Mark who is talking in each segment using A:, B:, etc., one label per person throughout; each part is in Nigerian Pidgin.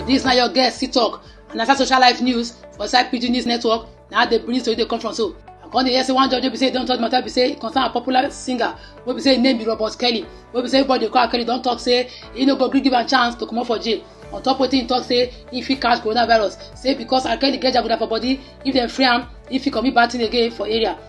A: This na your guest sit talk and na social life news for inside pidgin news network na how the bring tori dey come from so i come dey hear say one judge wey be say e don judge matter be say e concern a popular singer wey be say im name be robert kelly wey be say everybody dey call kelly don talk say e no go gree give am chance to comot for jail on top wetin e talk say e fit catch coronavirus say because r kelly get jaguda for body if dem free am e fit commit bad thing again for area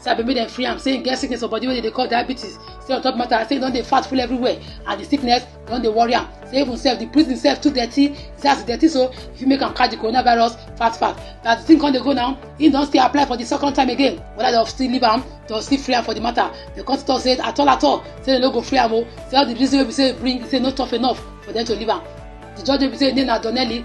A: say abeg make dem free am say im get sickness for body wey dey dey call diabetes say on top matter say e don dey fat full everywhere and the sickness don dey worry am say even sef the prison sef too dirty say as e dirty so e fit make am catch the coronavirus fast fast but as the thing come dey go now im don still apply for the second time again whether dem still leave am dem still free am for the matter dem come talk say at all at all say dem no go free am o say all the reason wey be say e bring say no tough enough for dem to leave am the judge wey be say im name na donnelly